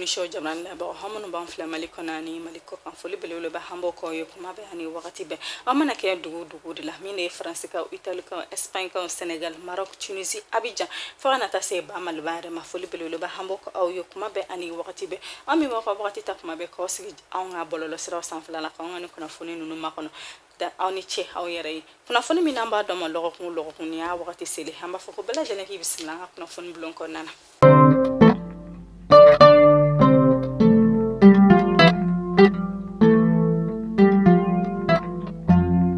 so jamana labagaw aw minnu b'an filɛ mali kɔnɔ ani mali kɔkan foli belebeleba an b'o k'aw ye kuma bɛɛ ani wagati bɛɛ aw mana kɛ dugu dugu de la min de ye faransikaw italikaw espaɲkaw senegal maroc tunisi abijan fo ka na taa se ba maliba yɛrɛ ma foli belebeleba an b'o k'aw ye kuma bɛɛ ani wagati bɛɛ aw min b'aw ka wagati ta kuma bɛɛ k'aw sigi anw ka bɔlɔlɔsiraw sanfɛla la k'anw ka ni kunnafoni ninnu makɔnɔ da aw ni ce aw yɛrɛ ye kunnafoni min n'an b'a d'aw ma lɔgɔkun o lɔgɔkun ni y'a wagati seli an b'a fɔ ko bɛɛ lajɛlen k'i bisimila an ka kunnafoni bulon kɔnɔna na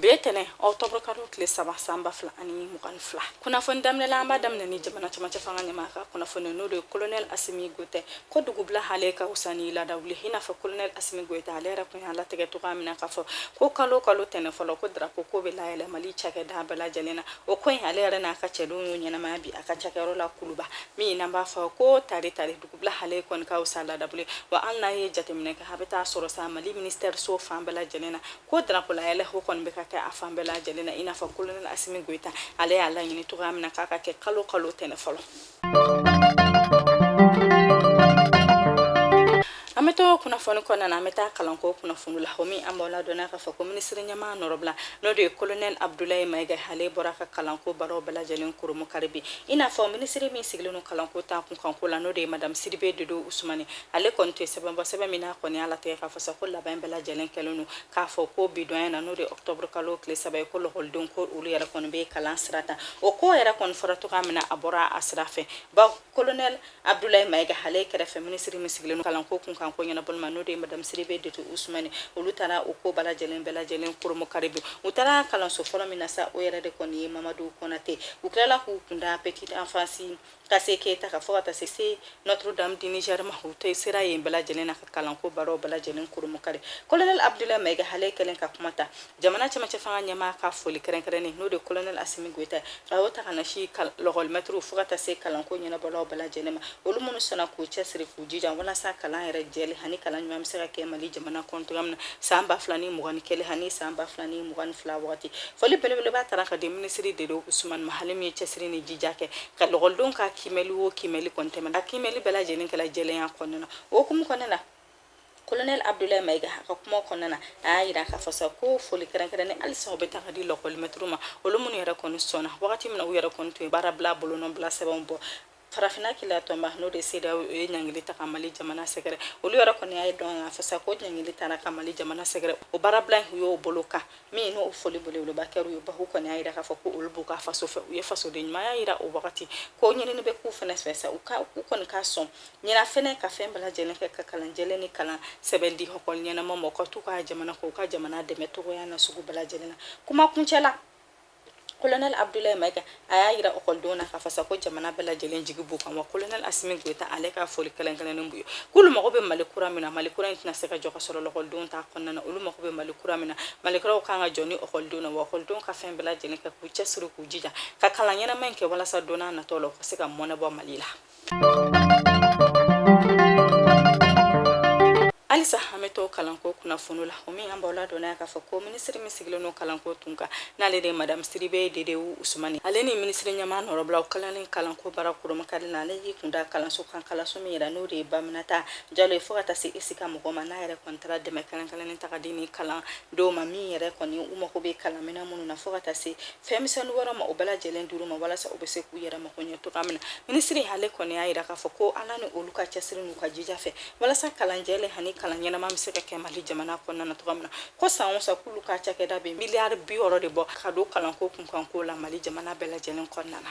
bi tɛnɛ octobre kalo tile saba san ba fila ani mugan ni fila kunnafoni daminɛla an b'a daminɛ ni jamana cɛmancɛ fanga ɲɛmaa ka kunnafoni n'o de ye kolonɛl asimi goyita ko dugubila hale ka wusa ni laada wuli i n'a fɔ kolonɛli asimi goyita ale yɛrɛ tun y'a latigɛ cogoya min na k'a fɔ ko kalo kalo tɛnɛ fɔlɔ ko darapo k'o bɛ layɛlɛ mali cakɛda bɛɛ lajɛlen na o ko in ale yɛrɛ n'a ka cɛdenw y'o ɲɛnamaya bi a ka cakɛyɔrɔ la kuluba min n'an b'a fɔ ko tari tari dugubila hale kɔni ka wusa laada wuli wa hali n'a ye jateminɛ kɛ a bɛ taa sɔrɔ sa mali ministɛri so fan bɛɛ lajɛlen na ko darapo layɛlɛ o kɔni bɛ ka kɛ a fan bɛɛ lajɛlen na i n'a fɔ kolonɛli asimi goyita ale y'a laɲini cogoya min na k'a ka kɛ kalo kalo tɛnɛ fɔlɔ an bɛ to kunnafoni kɔnɔna na an bɛ taa kalanko kunnafoni la komi an b'aw ladɔnniya k'a fɔ ko minisiri ɲɛmaa nɔrɔbila n'o de ye kolonɛli abudulayi mayiga ale bɔra ka kalanko baaraw bɛɛ lajɛlen koromu kari bi i n'a fɔ minisiri min sigilen don kalanko ta kunkanko la n'o de ye madamu sidibe dedewu usumani ale kɔni tun ye sɛbɛn bɔ sɛbɛn min n'a kɔni y'a latigɛ k'a fɔ sa ko labɛn bɛɛ lajɛlen kɛlen don k'a fɔ ko bidonya na n'o de octobre kalo tile saba ye ko lɔkɔlidenw ko olu yɛrɛ kɔni bɛ kalan sira ta o ko yɛrɛ kɔni fɔra cogoya min na a bɔra a sira fɛ baw kolonɛl abdulayi mayiga hale kɛrɛfɛ minisiri min sigilen don kalanko kunkanko ɲɛnabɔli ma n'o de ye madamu sidibe dedewu usumani olu taara o ko bɛɛ lajɛlen bɛɛ lajɛlen koromo kari bi u taara kalanso fɔlɔ min na sa o yɛrɛ de kɔni ye mamadu kɔnate u tilala k'u kunda petite enfance kase keyita ka fo ka taa se se notre dame du niger ma u tun sera yen bɛɛ lajɛlen na ka kalanko baaraw bɛɛ lajɛlen kurumukari kolonɛl abdulayi mayiga hale kɛlen ka kuma ta jamana cɛmancɛ fanga ɲɛmaa ka foli kɛrɛnkɛrɛnnen n'o de kolonɛl asimi goyita a y'o ta k'a ɲɛsin lɔgɔlimɛtiriw fo ka taa se kalanko ɲɛnabɔlaw bɛɛ lajɛlen ma olu minnu sɔnna k'u cɛsiri k'u jija walasa kalan yɛrɛ jɛlen ani kalan ɲuman bɛ se ka kɛ mali jamana kɔnɔ cogoya min na san ba fila ni mugan ni kelen ani san ba fila ni mugan ni fila wagati Foli belebeleba taara ka di minisiri dedewu usumani ma hale min ye cɛsiri ni jija kɛ ka lɔgɔlidenw ka kiimɛli o kiimɛli k'o tɛmɛ a kiimɛli bɛɛ lajɛlen kɛla jɛlenya kɔnɔna na o hukumu kɔnɔna na kolonɛl abdulayi mayiga ka kuma kɔnɔna na a y'a jira k'a fɔ sa ko foli kɛrɛnkɛrɛnnen halisa o bɛ taa ka di lakɔlimɛtiriw ma olu minnu yɛrɛ kɔni sɔnna wagati min na u yɛrɛ kɔni tun ye baara bila bolonɔ bila sɛbɛnw bɔ Farafinna kila tɔnba n'o de sedeyawo ye ɲangili ta ka mali jamana sɛgɛrɛ olu yɛrɛ kɔni y'a dɔn fasa ko ɲangili tara ka mali jamana sɛgɛrɛ o baarabila in y'o bolo kan min n'o foli belebeleba kɛ u ye bawo kɔni y'a jira k'a fɔ ko olu b'u ka faso fɛ u ye fasoden ɲumanya jira o wagati ko ɲinini bɛ k'u fana fɛ sa u ka u kɔni ka sɔn ɲinan fana ka fɛn bɛɛ lajɛlen kɛ ka kalan jɛlen ni kalan sɛbɛ di hɔkɔli ɲɛnama mɔgɔ ka tugu u ka jamana kɔ u ka jamana dɛmɛ cogoya na sugu bɛɛ lajɛlen na kuma kuncɛ la Kolonɛli Abudulayi Mayika a y'a jira ɔkɔlidenw na k'a fɔ sa ko jamana bɛɛ lajɛlen jigi b'u kan wa kolonɛli Asimi Goyita ale ka foli kɛrɛnkɛrɛnnen b'u ye k'olu mago bɛ Mali kura min na Mali kura in tɛna se ka jɔ k'a sɔrɔ lɔkɔlidenw t'a kɔnɔna na olu mago bɛ Mali kura min na Mali kura ka kan ka jɔ ni ɔkɔlidenw na wa ɔkɔlidenw ka fɛn bɛɛ lajɛlen kɛ k'u cɛsiri k'u jija ka kalan ɲɛnama in kɛ walasa don nataw la u ka se ka mɔnɛ bɔ Mali la. halisa an bɛ to kalanko kunnafoni la o min an b'aw ladɔnniya k'a fɔ ko minisiri min sigilen don kalanko kunkan n'ale de ye madamu sidibe dedewu usumani ale ni minisiri ɲɛmaa nɔnabila u tilalen kalanko baara kurunbonkari na ale y'i kun da kalanso kan kalanso min yɛrɛ n'o de ye ba aminata jalo ye fo ka taa se esika mɔgɔw ma n'a yɛrɛ kɔni taara dɛmɛ kɛrɛnkɛrɛnnen ta ka di nin kalandenw ma min yɛrɛ kɔni u mago bɛ kalanminɛn minnu na fo ka taa se fɛnmisɛnnin wɛrɛ ma o bɛɛ lajɛlen dira u ma walasa u bɛ se k'u yɛrɛ mako ɲɛ cogoya min na minisiri ale kɔni y'a jira k'a fɔ ko ala ni olu ka cɛsiri n'u ka jija fɛ walasa kalan jɛlen ani kalan ɲɛnama bɛ se ka kɛ mali jamana kɔnɔna na cogoya min na ko san o san k'olu ka cakɛda bɛ miliyari bi wɔɔrɔ de bɔ ka don kalanko kunkanko la mali jamana bɛɛ lajɛlen kɔnɔna na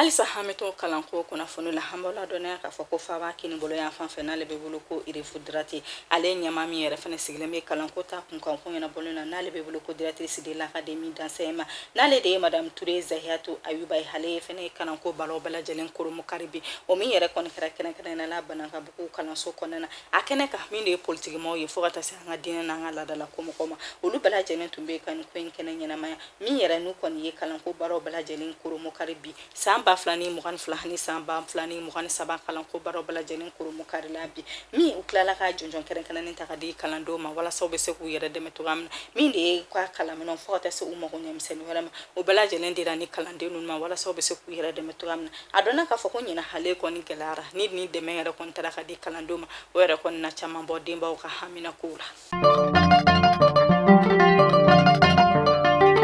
halisa an bɛ to kalanko kunnafoni la an b'aw ladɔnniya k'a fɔ ko faaba kininbolo yanfan fɛ n'ale bɛ wele ko rive droite ale ye ɲɛmaa min yɛrɛ fana sigilen bɛ kalanko ta kunkan ko ɲɛnabɔlen na n'ale bɛ wele ko directrice de l'académie d'enseignement n'ale de ye madamu ture zahiyatu ayuba ye ale ye fana kalanko baaraw bɛɛ lajɛlen kurunbonkari bi o min yɛrɛ kɔni kɛra kɛrɛnkɛrɛnnenya la banankabugu kalanso kɔnɔna na a kɛnɛ kan min de ye politikimɔgɔw ye fo ka taa se an ka diinɛ n'an ka laadalako mɔgɔw ma olu bɛɛ lajɛlen tun bɛ ka nin ko in kɛnɛ ɲɛnamaya min yɛrɛ n'u kɔni ye kalanko baaraw bɛɛ lajɛlen kurunbonkari bi san ba fila ni mugan ni fila ni san ba fila ni mugan ni saba kalanko baaraw bɛɛ lajɛlen kurunbonkarila bi min u tilala ka jɔnjɔn kɛrɛnkɛrɛnnen ta ka di kalandenw ma walasa u bɛ se k'u yɛrɛ dɛmɛ cogoya min na min de ye ka kalanminɛnw fo ka taa se u mago ɲɛ misɛnnin wɛrɛ ma o bɛɛ lajɛlen dira nin kalanden ninnu ma walasa u bɛ se k'u yɛrɛ dɛmɛ cogoya min na a dɔnna k'a fɔ ko ɲinan ale kɔni gɛlɛyara ni nin dɛmɛ yɛrɛ kɔni tara ka di kalandenw ma o yɛrɛ kɔni na caman bɔ denbaw ka hamina kow la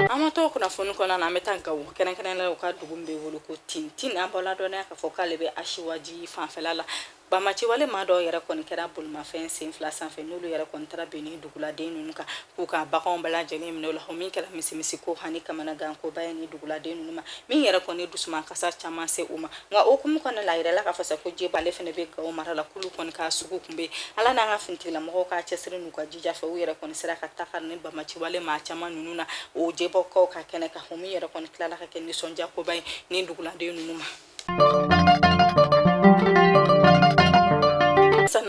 an bɛ to kunnafoni kɔnɔna na an bɛ taa gawo kɛrɛnkɛrɛnnenya la u ka dugu min bɛ wele ko tintin an b'aw ladɔnniya k'a fɔ k'ale bɛ asiwaji fanfɛla la Bamaciwale maa dɔw yɛrɛ kɔni kɛra bolimafɛn sen fila sanfɛ n'olu yɛrɛ kɔni taara bin ni duguladen ninnu kan k'u ka baganw bɛɛ lajɛlen minɛ o la o min kɛra misimisi ko hani kamanagankoba ye ni duguladen ninnu ma min yɛrɛ kɔni dusumankasi caman se u ma nka o hukumu kɔnɔ la a yirala k'a fɔ sa ko jebɔk ale fana bɛ gawo mara la k'olu kɔni ka sugu kun bɛ ala n'an ka finitigilamɔgɔw ka cɛsiri n'u ka jija fɛ u yɛrɛ kɔni sera ka takari ni bamaciwale maa caman ninnu na o jebɔkaw ka kɛnɛ kan o min yɛrɛ kɔni tilala ka kɛ nisɔndiyakoba ye ni duguladen ninnu ma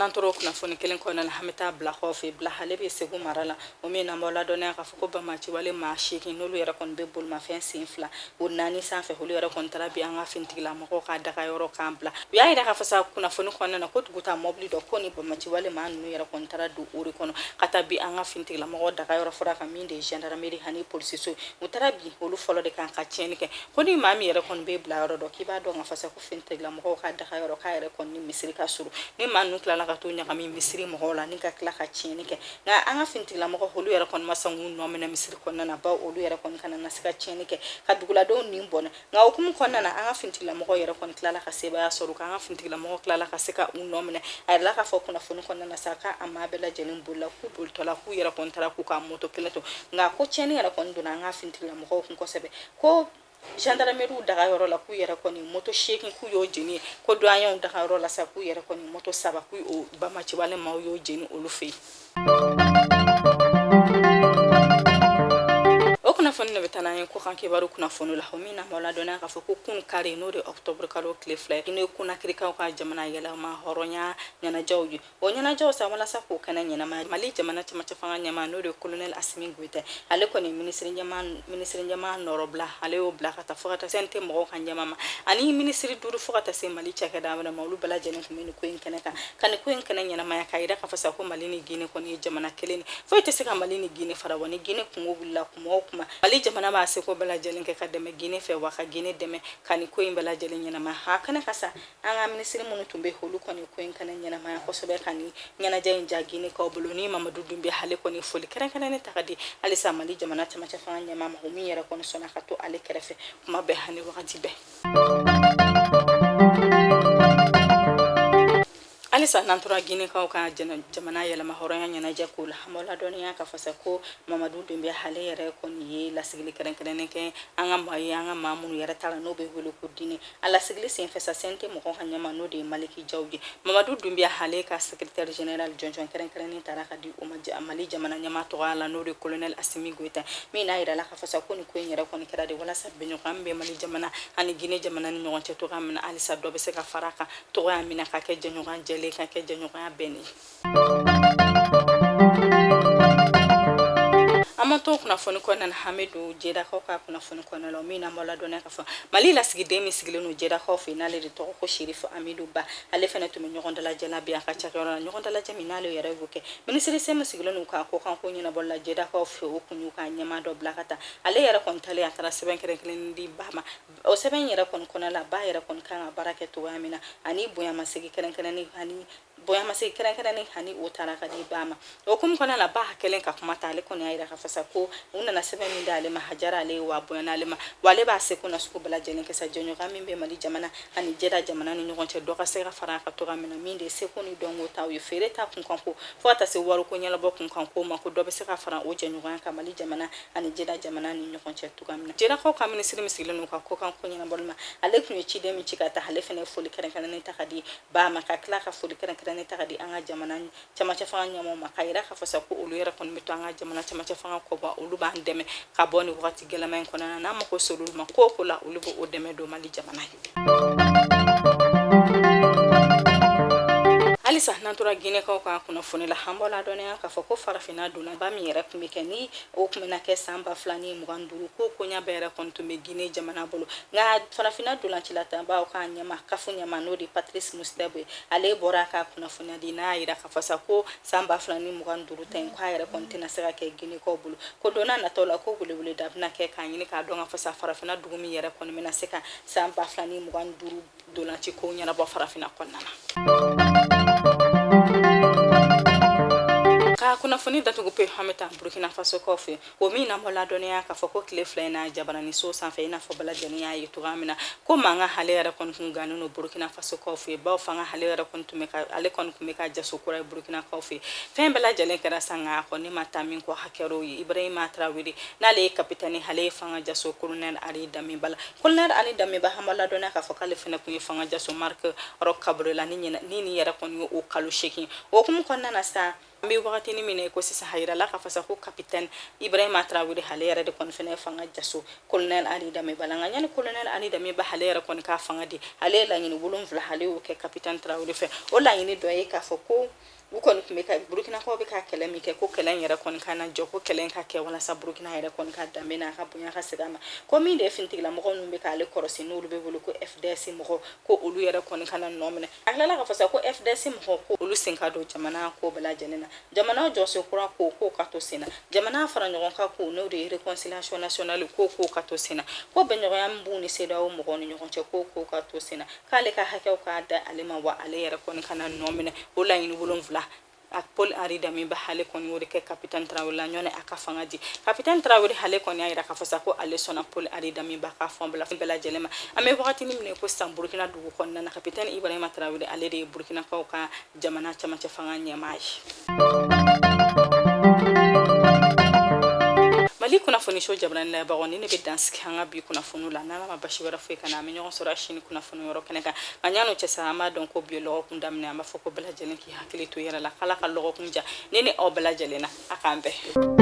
n'an tora kunnafoni kelen kɔnɔna na an bɛ taa bila kɔfɛ bila ale bɛ segu mara la o min na an b'aw ladɔnniya k'a fɔ ko bamaciwale maa seegin n'olu yɛrɛ kɔni bɛ bolimafɛn sen fila o naani sanfɛ olu yɛrɛ kɔni taara bin an ka finitigilamɔgɔw ka daga yɔrɔ kan bila u y'a yira k'a fɔ sa kunnafoni kɔnɔna na ko dugutaa mɔbili dɔ ko ni bamaciwale maa ninnu yɛrɛ kɔni taara don o de kɔnɔ ka taa bin an ka finitigilamɔgɔw daga yɔrɔ fila kan min de ye gendarmerie ani polisiso u taara bin olu fɔlɔ de kan ka tiɲɛni kɛ ko ni maa min yɛrɛ kɔni bɛ bila yɔrɔ dɔn k'i b'a dɔn k'a fɔ sa ko finitigilamɔgɔw ka daga yɔrɔ k'a yɛrɛ kɔni ni misiri ka surun ni maa ninnu tilala ka t'u ɲagami misiri mɔgɔw la ni ka tila ka tiɲɛni kɛ nka an ka finitigilamɔgɔ olu yɛrɛ kɔni ma sɔn k'u nɔ minɛ misiri kɔnɔna na bawo olu yɛrɛ kɔni kana na se ka tiɲɛni kɛ ka duguladenw nin bɔnɛ nka o hukumu kɔnɔna na an ka finitigilamɔgɔ yɛrɛ kɔni tilala ka sebaaya sɔrɔ k'an ka finitigilamɔgɔ tilala ka se ka u nɔ minɛ a yirala k'a fɔ kunnafoni kɔnɔna na sa k'a a maa bɛɛ lajɛlen bolila k'u bolitɔla k'u yɛrɛ kɔni taara k'u ka moto kelen to nka ko tiɲɛni yɛrɛ kɔni donna an ka finitigilamɔgɔw kun kosɛbɛ ko gendarmerie daga yɔrɔ la k'u yɛrɛ kɔni moto seegin k'u y'o jeni ko duwaɲɛw daga yɔrɔ la sa k'u yɛrɛ kɔni moto saba k'u o bamaciwale maaw y'o jeni olu fɛ yen o kunnafoni nin bɛ taa n'an ye kɔkan kibaru kunnafoni la o min na an b'aw ladɔnniya k'a fɔ ko kunun kari n'o de octobre kalo tile fila ye n'o ye konakirikaw ka jamana yɛrɛmahɔrɔnya ɲɛnajɛw ye o ɲɛnajɛw sa walasa k'o kɛnɛ ɲɛnamaya mali jamana cɛmancɛ fanga ɲɛmaa n'o de ye kolonɛli asimi goyita ale kɔni minisiri ɲɛmaa nɔnabila ale y'o bila ka taa fo ka taa CNT mɔgɔw ka ɲɛmaa ma ani minisiri duuru fo ka taa se mali cakɛda wɛrɛ ma olu bɛɛ lajɛlen tun bɛ ni ko in kɛnɛ kan ka ni ko in kɛnɛ ɲɛnamaya k'a yira k'a fɔ sa ko mali ni gine kɔni ye jamana kelen ni foyi tɛ se ka mali ni gine fara wa ni gine kunko wulila kuma o kuma mali jamana b'a seko bɛɛ lajɛlen kɛ ka dɛmɛ gine fɛ wa ka gine dɛmɛ ka ni ko in bɛɛ lajɛlen ɲɛnamaya kɛnɛ kan sa an ka minisiri minnu tun bɛ olu kɔni ko in kɛnɛ ɲɛnamaya kosɛbɛ ka ni ɲɛnajɛ in diya ginekaw bolo ni mamadu dunbuya ale kɔni foli kɛrɛnkɛrɛnnen ta ka di halisa mali jamana cɛmancɛ fanga ɲɛmaa ma o min yɛrɛ kɔni sɔnna ka to ale kɛrɛfɛ kuma bɛɛ ani wagati bɛɛ halisa n'an tora ginekaw ka jamana yɛrɛmahɔrɔnya ɲɛnajɛ ko la an b'aw ladɔnniya k'a fɔ sa ko mamadu dunbuya ale yɛrɛ kɔni ye lasigili kɛrɛnkɛrɛnnen kɛ an ka maa ye an ka maa minnu yɛrɛ taara n'o bɛ wele ko dîner A lasigili senfɛ sa CNT mɔgɔw ka ɲɛmaa n'o de ye Maliki Jaw ye, Mamadu Dunbiya ale ka secretaire general jɔnjɔn kɛrɛnkɛrɛnnen tara k'a di o ma Mali jamana ɲɛmaa tɔgɔya la n'o de ye colonel Assimi Goita min n'a jirala k'a fɔ sa ko nin ko in yɛrɛ kɔni kɛra de walasa bɛnɲɔgɔnya min bɛ Mali jamana ani Guinee jamana ni ɲɔgɔn cɛ cogoya min na halisa dɔ bɛ se ka fara a kan cogoya min na ka kɛ jɛɲɔgɔnya jɛlen ka kɛ jɛɲɔgɔnya bɛnnen ye. an ma to kunnafoni kɔnɔna na an bɛ don jedakaw ka kunnafoni kɔnɔna la min n'an b'aw ladɔnniya k'a fɔ mali lasigiden min sigilen don jedakaw fɛ n'ale de tɔgɔ ko sherifu amidu ba ale fana tun bɛ ɲɔgɔn dalajɛ la bi a ka cakɛyɔrɔ la ɲɔgɔn dalajɛ min n'ale yɛrɛ y'o kɛ minisiriso min sigilen don u ka kɔkanko ɲɛnabɔli la jedakaw fɛ o tun y'u ka ɲɛmaa dɔ bila ka taa ale yɛrɛ kɔni talen a taara sɛbɛn kɛrɛnkɛrɛnnen di ba ma o sɛbɛn yɛrɛ kɔni kɔnɔna la ba yɛrɛ kɔni kan ka baara kɛ cogoya min na ani bonyamasegin kɛrɛnkɛrɛnnen ani bonyamasegin kɛrɛnkɛrɛnnen ani o tara k'a di ba ma o hukumu kɔnɔna la ba kɛlen ka kuma ta ale kɔni y'a yira k'a fɔ sa ko u nana sɛbɛn min d'ale ma a diyara ale ye wa bonya n'ale ma wa ale b'a seko na sugu bɛɛ lajɛlen kɛ sa jɛɲɔgɔnya min bɛ mali jamana ani jɛda jamana ni ɲɔgɔn cɛ dɔ ka se ka fara a kan cogoya min na min de ye seko ni dɔnko ta u ye feere ta kunkanko fɔɔ ka taa se wariko ɲɛnabɔ kunkanko ma ko dɔ bɛ se ka fara o jɛɲɔgɔnya kan mali jamana ani jɛda jamana ni ɲɔgɔn cɛ cogoya min na jɛdakaw ka minisiri min sigilen don u ka kɔkanko ɲɛnabɔli ma ale tun ye ciden min ci ka taa ale fana ye foli kɛrɛnkɛrɛnnen ta k'a di ba ma ka tila ka foli kɛrɛnkɛrɛnnen ta k'a di an ka jamana cɛmancɛ fanga ɲɛmɔgɔ ma k'a yira k'a fɔ sa ko olu yɛrɛ kɔni bɛ to an ka jamana cɛmancɛ fanga kɔ bawo olu b'an dɛmɛ ka bɔ nin wagati gɛlɛman in kɔnɔna na n'an mako ser'olu ma ko o ko la olu b'o dɛmɛ don mali jamana halisa n'an tora ginɛkaw ka kunnafoni la an b'aw ladɔnniya k'a fɔ ko farafinna donnaba min yɛrɛ tun bɛ kɛ ni o tun bɛna kɛ san ba fila ni mugan duuru ko koɲa bɛɛ yɛrɛ kɔni tun bɛ gine jamana bolo nka farafinna dolancila tɔnba o ka ɲɛmaa kafu ɲɛmaa n'o de patirisi motisepe ye ale bɔra ka kunnafoniya di n'a jira k'a fɔ sa ko san ba fila ni mugan ni duuru ta in k'a yɛrɛ kɔni tɛna se ka kɛ ginekaw bolo ko donna nataw la ko weleweleda bɛna kɛ k'a ɲini k'a dɔn k'a fɔ sa farafinna dugu min yɛrɛ kɔni bɛna se ka san ba fila ni mugan ni duuru dolanci kow ɲɛnabɔ farafina kɔnɔna na ka kunnafoni datugu pe an bɛ taa burkina faso kɔ fɛ o min n'an b'aw ladɔnniya k'a fɔ ko tile fila in na jabaranin so sanfɛ i n'a fɔ bɛɛ lajɛlen y'a ye cogoya min na ko mankan ale yɛrɛ kɔni tun gannen don burkina faso kɔ fɛ bawo fanga ale yɛrɛ kɔni tun bɛ ka ale kɔni tun bɛ ka jaso kura ye burkina kɔ fɛ fɛn bɛɛ lajɛlen kɛra sa nka a kɔni ma taa min kɔ a kɛra o ye ibrahima tarawele n'ale ye kapitɛni ale ye fanga jaso kolonɛl ari damiba la Kolonɛri Ali Damiba an b'aw ladɔnniya k'a fɔ k'ale fana tun ye fanga jaso Mariki Rɔk Kabore la ni nin yɛrɛ kɔni ye o kalo seegin. O hukumu kɔnɔna na sa, an bɛ wagatini min na i ko sisan, a jirala k'a fɔ sa ko kapitɛni Ibrahima Tarawele ale yɛrɛ de kɔni fana ye fanga jaso Kolonɛri Ali Damiba la. Nka yanni Kolonɛri Ali Damiba ale yɛrɛ kɔni ka fanga di, ale ye laɲini wolonwula ale y'o kɛ kapitɛni Tarawele fɛ. O laɲini dɔ ye k'a fɔ ko u kɔni tun bɛ ka burukinakaw bɛ ka kɛlɛ min kɛ ko kɛlɛ in yɛrɛ kɔni kana jɔ ko kɛlɛ in ka kɛ walasa burukina yɛrɛ kɔni ka danbe n'a ka bonya ka segin a ma ko min de ye finitigilamɔgɔ minnu bɛ k'ale kɔrɔsi n'olu bɛ wele ko fds mɔgɔ ko olu yɛrɛ kɔni kana nɔ minɛ a tilala k'a fɔ sa ko fds mɔgɔ ko olu sen ka don jamana ko bɛɛ lajɛlen na jamana jɔsen kura ko k'o ka to sen na jamana fara ɲɔgɔn kan ko n'o de ye réconciliation nationale ko k'o ka to sen na ko bɛnɲɔgɔnya min b'u ni cedeao mɔgɔw ni ɲɔgɔn cɛ ko k'o ka to sen na k'ale ka hakɛw ka da ale ma wa ale yɛrɛ kɔni kana nɔ minɛ o laɲini wolonfila a paul henri damiba hale kɔni y'o de kɛ kapitɛn tarawele la yanni a ka fanga di kapitɛn tarawele hale kɔni y'a yira k'a fɔ sa ko ale sɔnna paul henri damiba ka fɛnw bɛɛ lajɛlen ma an bɛ wagati min na ko sisan burukina dugu kɔnɔna na kapitɛn ibrahima tarawele ale de ye burukinakaw ka jamana camancɛ fanga ɲɛmaa ye mali kunnafoniso jabarani lajɛbagaw ni ne bɛ dansigi an ka bi kunnafoniw la n'ala ma basi wɛrɛ foyi k'an na an bɛ ɲɔgɔn sɔrɔ a sini kunnafoni yɔrɔ kɛnɛ kan nka yann'o cɛ sa an b'a dɔn ko bi ye lɔgɔkun daminɛ an b'a fɔ ko bɛɛ lajɛlen k'i hakili to i yɛrɛ la k'ala ka lɔgɔkun diya ne ni aw bɛɛ lajɛlen na a k'an bɛɛ